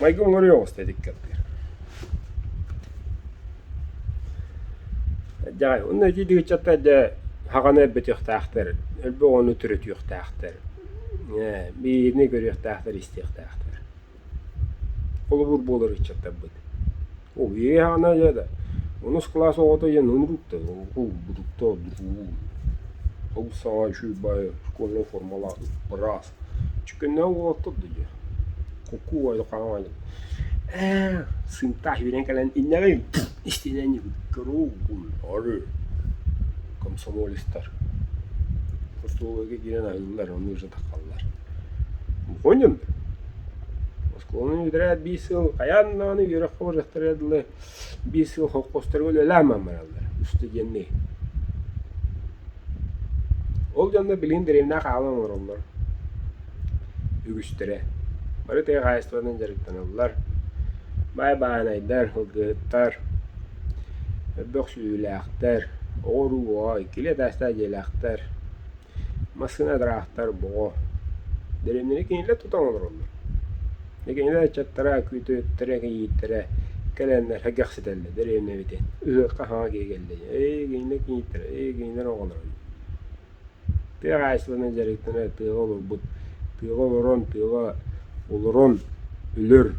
майгы оҥоруйа оҕуста итик кэппиэр Дьаай, онно итиитик ыччаттар дьэ хаҕаны өлбөтүөхтээхтэр, өлбү оҕону төрөтүөхтээхтэр, ээ бириини көрүөхтээхтэр, истиэхтээхтэр. Холобур буолар ыччаттарбыт. Уһуйуой хаҕана дьэ да онус кылаас оҕото диэн онуруктар олбутуктар дуу, олус саҥа үчүгэй бары кулун формалаах быраас Чөкүнэ уол турда дии, кукуу ойукаан оонньуубут ээ сыымтаах үүнэн кэлэн иннэҕин истинэнньиги кыруугун ары комсомолецтар хостуолга киирэн аһыыллар онно сытаххаллар мухунньун оскуоланы бүтэрээт биир сыл хайаан даҕаны үөрэххэ барыахтара дылы Биир сыл холкуостарга үлэлээн маммараллар, студенныы. Ол дьонно билигин дэриэбинэҕэ хаалан олороллор. Үгүстэрэ бары тыа хаһаайыстыбатынан дьарыктаналлар, баай-баанайдар, кылгыһыттар, мөлбөх сүдүүлээхтэр, оҕо-уруу оҕо, иккилии атаастаах дьиэлээхтэр. Массыына ыраахтар боҕо. Дэриэбинэни кинилэр тутан олороллор. Кинилэр ыччаттара, күүтүөхтэрэ, кийииттэрэ кэлэннэр кэксэтэллэр дэриэбинэбитин. Ыһыахха саҥа киһи кэллэ диэн. Эйии кинилэр кийииттэрэ, эйии кинилэр оҕолоро диэн. Тыа хаһаайыстыбатын дьарыктана тыаҕа олорбут, тыаҕа олорон, тыаҕа олорон өлөр,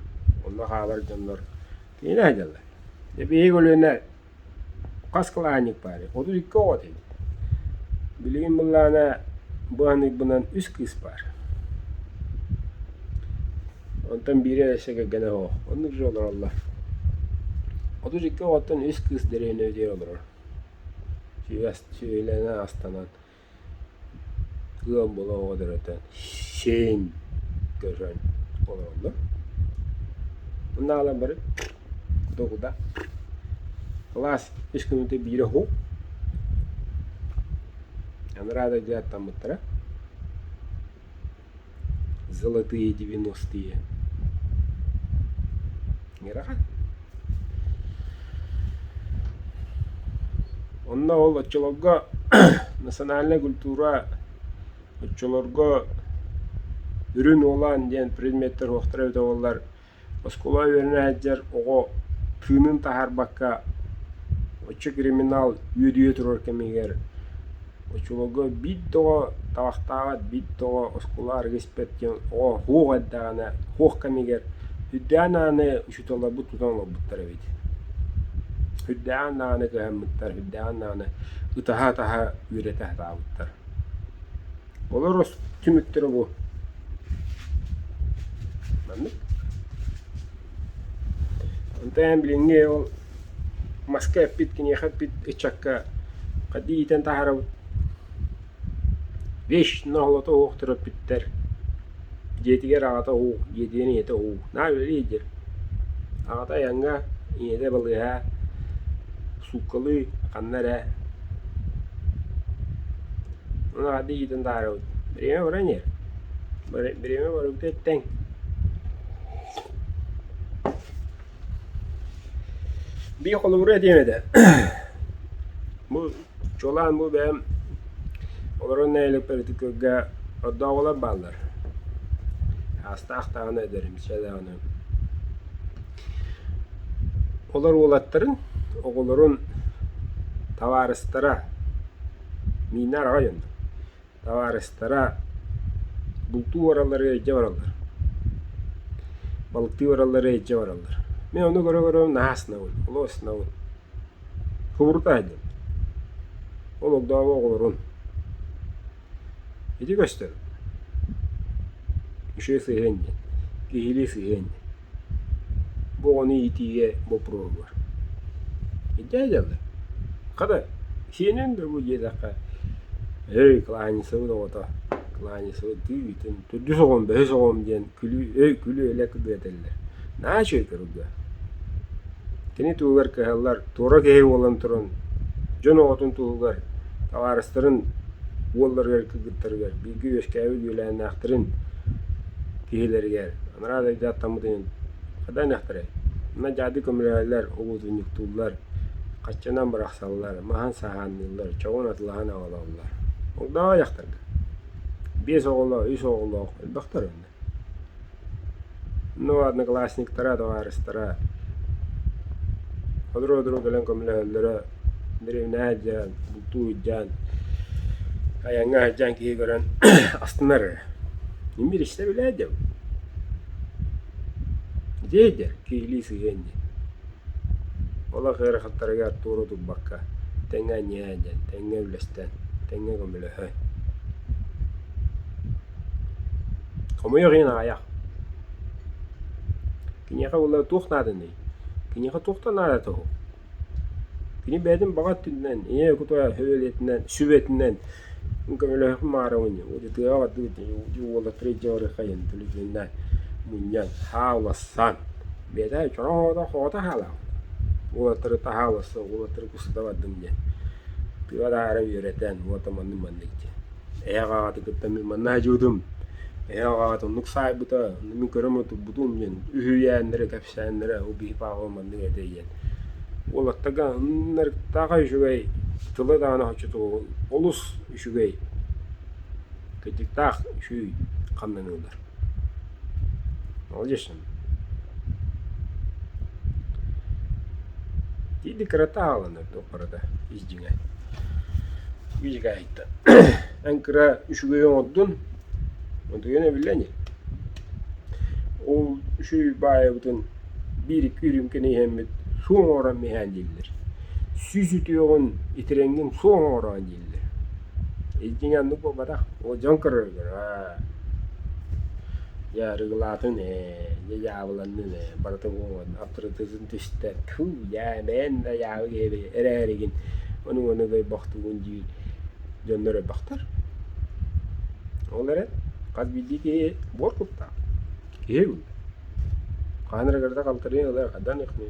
онно хаалар дьоннор кинилэр сылдьаллар. Дьэ биһиги көлүөнэ Хас кылаанньык баарый? Отут икки оҕо этим. Билигин былаана быһаныкбынан үс кыыс баар. Онтон биирэ өссө кэргэнэ суох. Оннук дьон олороллор. Отут икки оҕоттон үс кыыс дэриэбинэбитигэр олорор. Сүөһү сүөһүлэнэ астанан Ыам була оҕо дөрөтөн сиэн көһөн олороллор. Онно хаалан баран догуда. Кылаас үс күнүнтэн биирэ уһук. Анараа дойду аттаммыттара. золотые девяностые Онно ол оччолорго национальнай культура оччолорго үрүн уолаан диэн предметтэр уохтара эбитэ буоллар Оскуола үөрэнээччитигэр оҕо тыынын таһаарбакка оччо криминал үөдүйэ турар кэмигэр очолорго биир да оҕо табахтаабат, биир да оҕо оскуола арыгы испэт диэн оҕо суох эрдэҕинэ, суох кэмигэр үрдээн даҕаны учууталларбыт тутан олорбуттар эбит. Үрдээн даҕаны көһөммүттэр, үрдээн даҕаны ытаһа-атаһа үөрэтэ сатаабыттар. Олор түмүктэрэ бу. Маннык. Онтон билиҥҥи ол маска эппит, киниэхэ эппит ыччакка хадди иитэн таһаарабыт. Вещь на золото оһохторо эппиттэр. Дьиэтигэр аҕата уу, дьиэтигэр ийэтэ уу, «Наа, үлэлии» диир. Аҕата айаҥҥа, ийэтэ балыыһа, сууккалыы, ханна эрэ ону аҕата иитэн таһаарабыт. «Бириэмэ бара иниэр, бириэмэ барыбыта эттэҥ» Бии холобура этиэм этэ, бу Чуолаан бу бэйэм олорон нэһилиэкпэр ити күргэ ордооҕулар бааллар. Саастаах даҕаны эдэрим, сиэ даҕаны. Олор уолаттарын, оҕолорун, табаарыстара, миинэ араҕай онно. Табаарыстара бултуу бараллара илдьэ бараллар, балыктыы бараллара илдьэ бараллар. Мин ону көрө-көрө наһаа астынабын, олох астынабын. Кубурутаа иһинним. Ол огдообо оҕолорун ити көстөр. Үчүгэй сыһыан диэн, киһилии сыһыан диэн. Бу оҕону иитиигэ боппуруоһугар. Дьэ дьалы, хата, сиэнин да бу диэтэххэ, өй Кылаанньысабын оҕото, Кылаанньысабын тыытын төрдүс оҕом, бэһис оҕом диэн күлүү өй күлүү-элэк ырыа этэллэр. Наа үчүгэй көрүҥэ. Кини туһугар кыһаллар туора киһи буолан туран дьон оҕотун туһугар, табаарыстарын уолларыгар кыргыттарыгар, бииргэ үөскээбит үөлээннээхтэрин киһилэригэр анараа дойду аттаммыт ойун хата ынахтарай? Манна дьаады көмөлөһөллөр, угутунньуктууллар, хаччанан бырахсаллар, маһын сааһаанныыллар, чоҕун атылаһан аҕалаллар. Огдоҕо дьахтарга: биэс оҕолоох, үс оҕолоох элбэхтэр онно. Ну, одноклассниктара, табаарыстара сотору-сотору кэлэн көмөлөһөллөрө, дэриэбинэҕэ сылдьан, бултуу сылдьан, айаҥҥа сылдьан киһи көрөн астынар эрэ. Мин билистэ билээт дьэ дьиэйдэр киһилии сыһыан дии. Ол ах ыарахаттарыгар туора турбакка тэҥҥэ ньиэһэн дьэн, тэҥҥэ үллэстэн, тэҥҥэ көмөлөһөн. Хомойуох иһин аҕыйах. Киниэхэ буоллар туох нааданый? Киниэхэ туохтан наадата уһу? Кини бэйэтин баҕа өттүнэн, ийэ кутура сөбүлэтинэн, сүбэтинэн көмөлөһүөхпүн баҕарабын ини. Утутуйа бардыбыт дьэ уолаттары илдьэ барыаххайын, төлөтүнэн мунньан, сааласан. Бэйэтэ чороһоото хоото саалаабыт. Уолаттары таһааласа, уолаттары кустата бардым диэн. Тыа таһаара үөрэтэн, уота маннык-маннык диэн. Эһиэхэ аҕата кытта мин манна садьыыбытым, эһиэхэ аҕата оннук саайбыта, онно мин көрөм да турбутум диэн үһүйээннэрэ, кэпсээннэрэ ол биһи пааҕыбын маннык этэйиэн. Уолаттарга ынырыктааха үчүгэй, тыла даҕаны оччотугу олус үчүгэй, кыдьыктаах үчүгэй хамнаныылар. Ол дьэ Тиити кырата аалына туох барыта ис дьиҥэ үчүгэйиттэн эн кыра үчүгэй оҥордун утуйан эбиллэ ини ол үчүгэй баайабытын биир икки үрүүмкэни иһэммит суо оҥорон иһээн дииллэр сүүс үтүөҕүн итирэҥҥин суо оҥороон дииллэр Дьиҥэ оннук буолбатах, оо дьон көрөллөр аа дьэ арыгылаатын ээ, дьэ дьаабыланнын ээ, барыта буолуон аптырытыытын түстэ, тфу дьаа бэйэм да дьаабы киһи эрээригин ону-маны ойбохтуубун дии дьоннор ойбохтор. Ол эрэн хас биирдии киһи буор куттаах, киһи ылла. Хаһан эрэ кырата халтарыйан ылыа, хаданыахмыай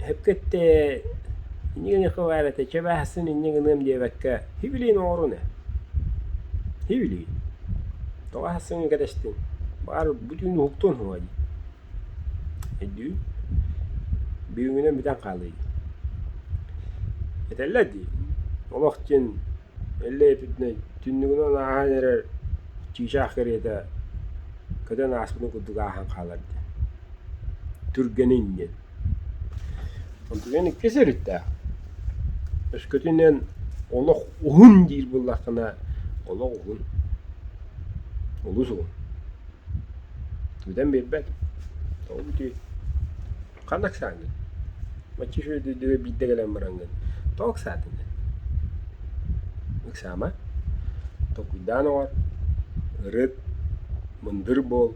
Эпкэтте иннигиҥэ хабаар этэ, чэ бааһысын инньэ гыныам диэбэккэ, һибилиин оҥорун ээ. Һибилиин. Тоҕо аһассыҥ кэтэстиҥ? Баҕар бүтүн уһуктуон суоҕа дии. Өйдүүн. Бүгүҥҥүнэн бүтэн хаалыай дии. Этэллэр дии, олох диэн эллэй эппитинэй түннүгүнэн ааһан эрэр чыычаах кэриэтэ көтөн ааспытын курдук ааһан хаалар диэн. Түргэнин диэн. Онтукээн иккис өрүттээх. Өскөтүнэн олох уһун диир буоллаххына, олох уһун. Олус уһун. Бүтэн биэрбэт. Тоҕо бүтүүй? Ханна ыксааҥҥын? Мачча үчүгэйдик биирдэ кэлэн бараҥҥын. Тоҕо ыксаатыҥ? Ыксаама. Толкуйдаан оҥор. Ырыт. Мындыр буол.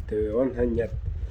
Төбөҕүн санньат.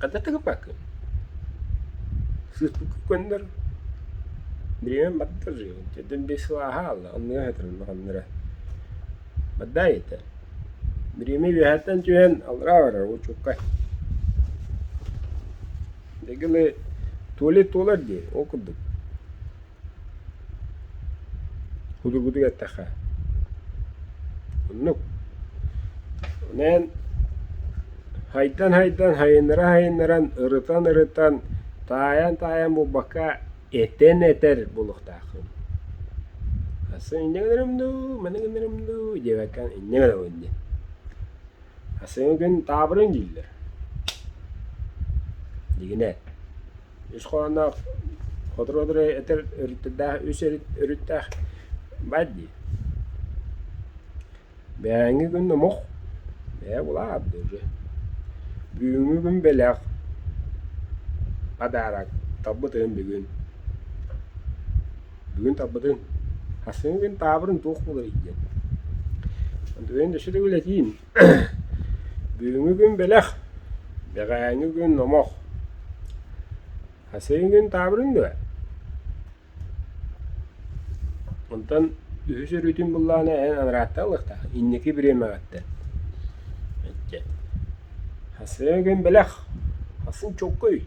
Кадатыгыпакын сыыспыккын көннөр бириэмэм бардар дьэ биэс сыл аһаалла оннуга сытарыллаххыннара баддай итэ бириэмэ үөһэттэн түһэн аллараа барар уочуккай дэгили туалет туолар дии ол курдук Кудургутук эттэххэ, оннук. Ону эн хайдан-хайдан, хайыннара-хайыннаран, ырытан-ырытан, таайан-таайан булбакка этэн этэр буолуохтааххын. Асы инньэ гынарым дуу, маны гынарым дуу диэбэккэ инньэ гынабын диэн. Асы күн таабырын дииллэр. Дигинэ. үс хоһоонноох хотору-одуру этэр өрүттэрдээх үс өрүт өрүттээх баар дии. Бээҥҥи күн омук бэйэ булаат дылы. Бүгүҥҥү күн бэлэх подароктарбыт ын бүгүн. Бүгүн тарбытын хасыҥы күн таабырын туох буларый диэн. Антоnin өссө да үлэтиин Бүгүҥҥү күн бэлэх, бэҕэһээҥҥи күн номох. Хасыйын күн таабырын дуо? Онтон үһүс өрүүтүн буллаҕына эн анарааттан ылыахтаах, инники бириэмэҕиттэн. Хасыйын күн бэлэх, хасыын чоккуй.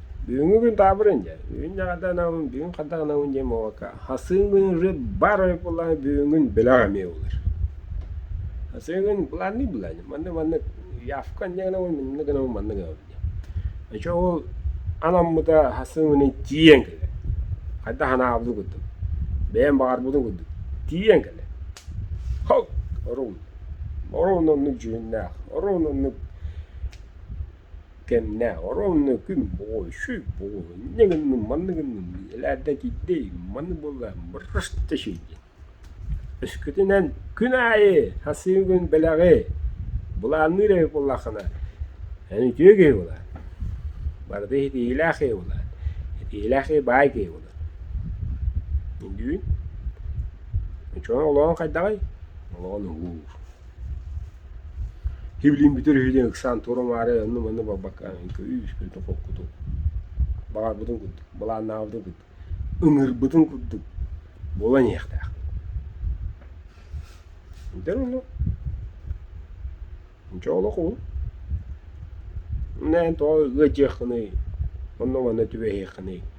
Бүгүҥҥү күн таабырын дьэ, бүгүн дьаҕарда гынабын, бүгүн хата гынабын диэн буолбакка, хасыылыыры бар ойбуллаҕа бүгүҥҥүн бөлөх эмиэ ыллыр. Хасыылыын былаанныы былаанныы, маннык маннык явка инньэ гынабын, инньэ гынабын, маннык гынабын диэн. Оччо ол анаммыта хасыылыыны тиийэн кэлэр. Хайдах анаабытын курдук, бэйэм баҕарбытым курдук тиийэн кэлэр. Хал! Оруун. Оруун оннук дьүһүннээх, оруун оннук Кэннэ оронно күн баҕай сүр бөҕөҕө инньэ гынным манна гынным дии элээрдэ киирдэй маны буолла бырыс да син диэн өскөтүнэн күн аайы сасыыгын бэлэҕи былаанныыр эбит буоллаххына эн үтүө киһи буолаан барыта ситиһиилээх киһи буолаан ситиһиилээх киһи баай киһи буолан үндүүн оччоҕуна олоҕуҥ хайдаҕый олоҕун уһуур Ивлин бүтэр үһүтүн ыксаан туора-маары онну-манны буолбакка күүс-көтө холкутук баҕарбытын курдук, былааннаабытын курдук, ыҥырбытын курдук буолан иһиэхтээх. Итэр онно чэ олох ол эн тоҕо ыадьыаххыный, онно-манна түбэһиэххиний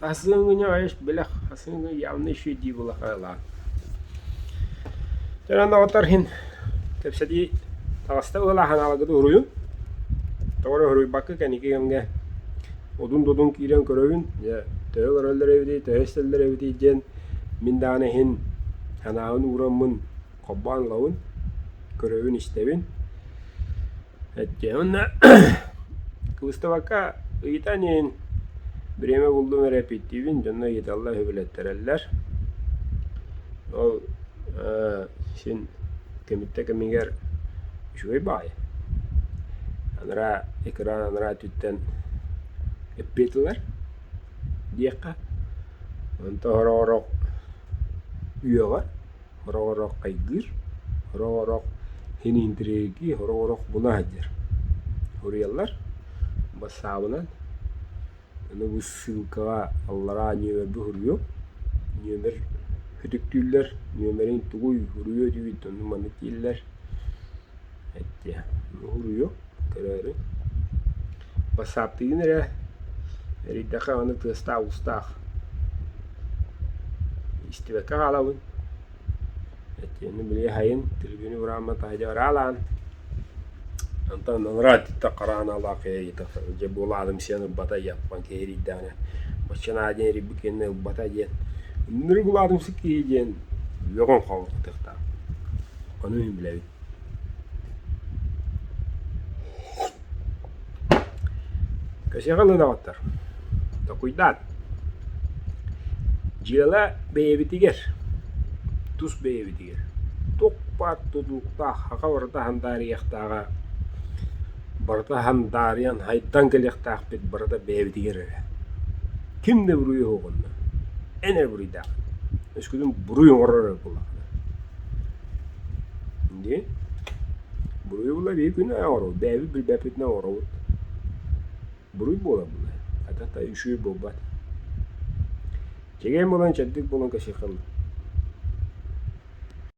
Сасыыҥҥыня айыс билэх, сасыыҥҥы явный ши дии былахаалаан. Өлөн оҕотор иһин кэпсэтии таҕыста ылалааһын алагыты уруйун. Тоҕо эрэ уруйбакка кэниги кэмгэ одун-додун киирэн көрөбүн, дьэ төһө көрөллөр эбитий, төһө истэллэр эбитий диэн мин даҕаны иһин санаабын уураммын холбоон ылабын, көрөбүн-истэбин. Эттиэ уонна Выставакка ыйытан иһин бириэмэ буллум эрэ эпиктиибин дьонно ыйыталлар сөбүлэттэрэллэр. Ол ээ син кимиттэ кимигэр үчүгэй баай. Анараа экран анараа өттүттэн эппиэтилэр диэххэ. Онто сорох-сорох үөҕэр Хороҕорох хайгыыр, хороҕорох хиниинтирээги, хороҕорох буна сылдьар. Суруйаллар. Бассаабынан аны бу ссылкаҕа аллараа нүөмэрбэ суруйуом. Нүөмэр ытыктыыллар. Нүөмэрин тугуй суруйуо диигит, оннук маннык дииллэр. эттиэ уһуйуо көрөөрү бассаптыгын эрэ эрийдэххэ аны тыастаах-устаах истибэккэ хаалабын эттиэни били айан телевидение урааммата дьэ ыраалаан онтон анараа өттүттэн хараҥалаах дьэ буолаалым сиэн ылбата яппан киһи эрийдэҕинэ маччанаа диэн эрийбит кэннэ ылбата диэн ынырык улаатымсык киһи диэн үөҕэн хаалбыттыахтаах ону мин билэбин Кэсиэхэ ылынаҕыттар, токуйдаат, дьыала бэйэбитигэр, тус бэйэбитигэр туох-баар тутууктаах саха барыта һандаарыйыахтааҕа, барыта һандаарыйан һайдан кэлиэхтээхпит барыта бэйэбитигэр эрэ. Ким да буруйа суох онно, эн эрэ буруйдаах, өскөтүн буруй оҥорор эрэ буоллаҕына. Дии, буруйубулар ии күнэ оҕоробут, бэйэбит билбэппитинэ оҕоробут. Буруй буолар буолуо, атата үчүгэй буолбат. Чэгиэн буолан чэбдик буолан кэсиэххэ